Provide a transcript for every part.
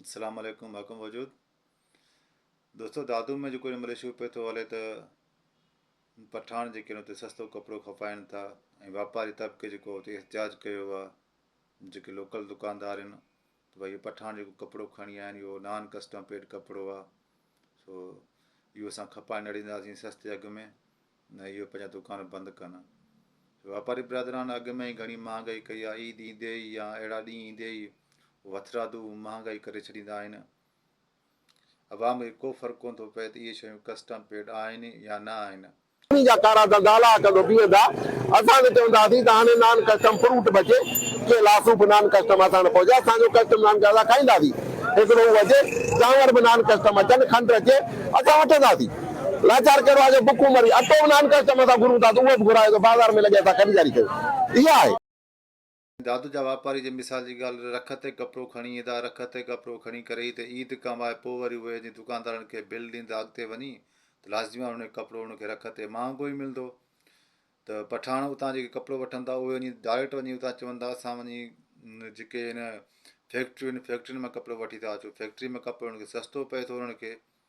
اسلام عليڪم حڪم وجود دوستو دادو ۾ جيڪو مليشيو پي ٿو هلي ته پٺاڻ جيڪي اتي سستو ڪپڙو کپائن ٿا ۽ واپاري طبقي جيڪو اتي احتجاج ڪيو آ جيڪي لوڪل دڪاندار آهن ته ڀائی اهو پٺاڻ جيڪو ڪپڙو کڻي آيا آهن اهو نان ڪسٽم پيڊ ڪپڙو آ سو اهو اسان کپائي نه ڏينداسين سستي اگهه ۾ نه اهي پنهنجا دوڪان بند ڪن. واپاري برادران اڳ ۾ ئي گهڻي مهانگائي ڪئي آهي، عيد ايندي ئي يا اهڙا ڏينهن ايندي ئي هو هٿرادو مهانگائي ڪري ڇڏيندا آهن. عوام کي ڪو فرق ڪونه ٿو پئي ته اهي شيون ڪسٽم پيڊ آهن يا نه آهن. انهي جا ڪارا ڌنڌا هلائي ڪندو بيهندا. اسان ته چونداسين ته هاڻي نان ڪسٽم فروٽ به اچي، ڪي لاسو به نان ڪسٽم اسان نه پهچائي، اسان جو ڪسٽم نان ڪسٽم اسان کائينداسين. هڪڙو هو اچي، چانور به نان ڪسٽم اچن، کنڊ اچي، اسان وٺنداسين. لاچار ڪهڙو آهي جو بکون مري، اٽو به نانڪا چم سان گهرون ٿا ته اهو به گهرائي ٿو، بازار ۾ لڳي اسان خريداري ڪيون، اها آهي. دادو جا واپاري جي مثال جي ڳالهه رک تي ڪپڙو کڻي ايندا، رک تي ڪپڙو کڻي ڪري ئي ته عيد ڪمائي پوء وري اهي جي دڪاندارن کي بل ڏيندا اڳتي وڃي ته لازميان انهي ڪپڙو انهن کي رک تي مهانگو ئي ملندو ته پٺاڻ اتان جيڪي ڪپڙو وٺندا اهي وڃي ڊائريڪٽ وڃي اتان چوندا اسان وڃي جيڪي هن فيڪٽريون آهن فيڪٽرين مان ڪپڙو وٺي ٿا اچون فيڪٽري ۾ ڪپڙو انهن کي سستو پئي ٿو انهن کي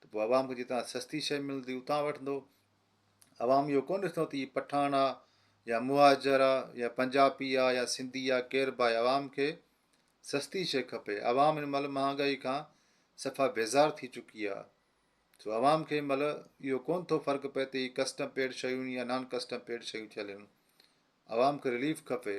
ته پوء عوام کي جتان سستي شيء ملندي اتان وٺندو. عوام اهو ڪونه ڏسندو ته هي پٺاڻ آ يا مهاجر آ يا پنجابي آ يا سنڌي آ ڪير به آهي عوام کي سستي شيء کپي. عوام هن مهل مهانگائي کان صفا بيزار ٿي چڪي آ سو عوام کي هن مهل اهو ڪونه ٿو فرق پئي ته هي ڪسٽم پيڊ شيون يا نان ڪسٽم پيڊ شيون ٿي هلن عوام کي رليف کپي.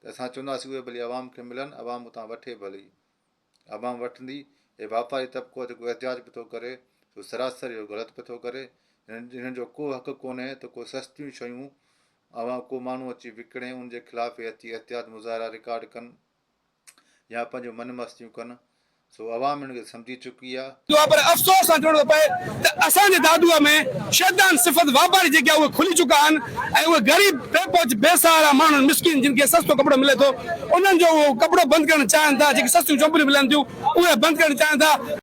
ته اسان چونداسين اهي ڀلي عوام کي ملن، عوام اتان وٺي ڀلي. عوام وٺندي ۽ واپاري طبقو جيڪو احتجاج پئي ٿو ڪري سو سراسر اهو غلط پئي ٿو ڪري. هنن جو ڪو حق ڪونهي ته ڪو سستيون شيون عوام ڪو ماڻهو اچي وڪڻي ان جي خلاف اهي اچي احتجاج مظاهرا رڪارڊ ڪن يا پنهنجون من مستيون ڪن، سو عوام ان کي سمجهي چڪي آهي. جو آهي پر افسوس سان چوڻو ٿو پئي ته اسان جي دادوء ۾ شيطان صفت واپاري جيڪي آهي اهي کلي چڪا آهن ۽ اهي غريب، بي پهچ، بي سهارا ماڻهن، مسڪين، جن کي سستو ڪپڙو ملي ٿو انهن جو اهو ڪپڙو بند ڪرڻ چاهين ٿا، جيڪي سستيون چوپڙيون ملن ٿيون اهي بند ڪرڻ چاهين ٿا.